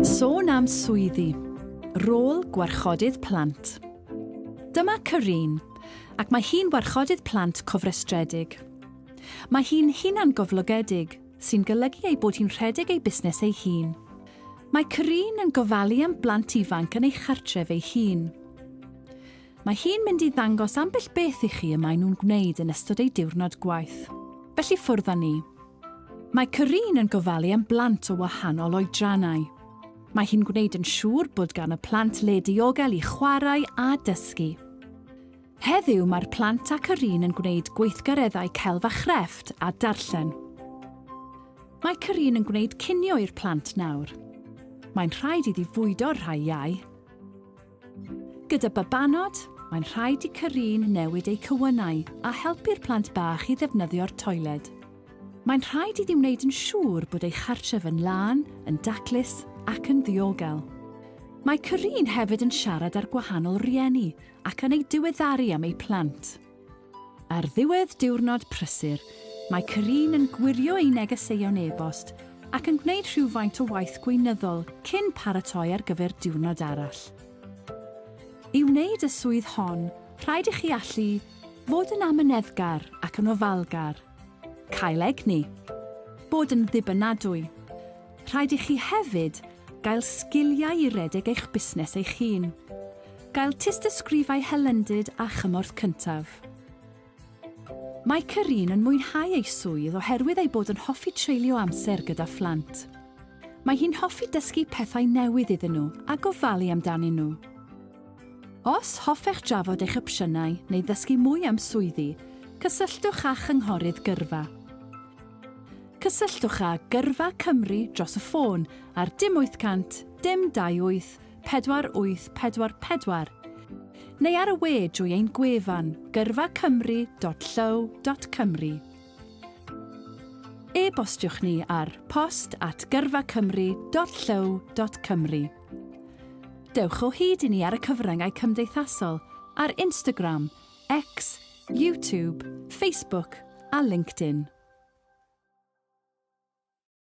Sôn am swyddi, rôl gwarchodydd plant. Dyma Corinne, ac mae hi'n warchodydd plant cofrestredig. Mae hi'n hunangoflogedig, sy'n golygu ei bod hi'n rhedeg ei busnes ei hun. Mae Corinne yn gofalu am blant ifanc yn ei chartref ei hun. Mae hi'n mynd i ddangos ambell beth i chi y maen nhw'n gwneud yn ystod eu diwrnod gwaith. Felly ffwrdd â ni. Mae Corinne yn gofalu am blant o wahanol oedrannau. Mae hi'n gwneud yn siŵr bod gan y plant le diogel i chwarae a dysgu. Heddiw mae'r plant a Corinne yn gwneud gweithgareddau celf a chrefft a darllen. Mae Corinne yn gwneud cinio i'r plant nawr. Mae'n rhaid iddi fwydo'r rhai iau. Gyda babanod, mae'n rhaid i Carine newid eu cywynnau a helpu'r plant bach i ddefnyddio'r toiled. Mae'n rhaid iddi wneud yn siŵr bod ei chartref yn lân, yn daclus ac yn ddiogel. Mae Carine hefyd yn siarad â'r gwahanol rieni ac yn eu diweddaru am eu plant. Ar ddiwedd diwrnod prysur, mae Carine yn gwirio ei negeseuon e-bost ac yn gwneud rhywfaint o waith gweinyddol cyn paratoi ar gyfer diwrnod arall. I wneud y swydd hon, rhaid i chi allu fod yn amyneddgar ac yn ofalgar. Cael egni. Bod yn ddibynadwy. Rhaid i chi hefyd gael sgiliau i redeg eich busnes eich hun. Gael tystysgrifau hylendid a chymorth cyntaf. Mae Kerrine yn mwynhau ei swydd oherwydd ei bod yn hoffi treulio amser gyda phlant. Mae hi'n hoffi dysgu pethau newydd iddyn nhw a gofalu amdanyn nhw. Os hoffech drafod eich opsiynau neu ddysgu mwy am swyddi, cysylltwch â Chynghorydd Gyrfa. Cysylltwch â Gyrfa Cymru dros y ffôn ar dim 800 dim 28 4844 neu ar y we drwy ein gwefan gyrfacymru.llyw.cymru. E-bostiwch ni ar post at gyrfacymru.llyw.cymru. Dewch o hyd i ni ar y cyfryngau cymdeithasol ar Instagram, X, YouTube, Facebook a LinkedIn.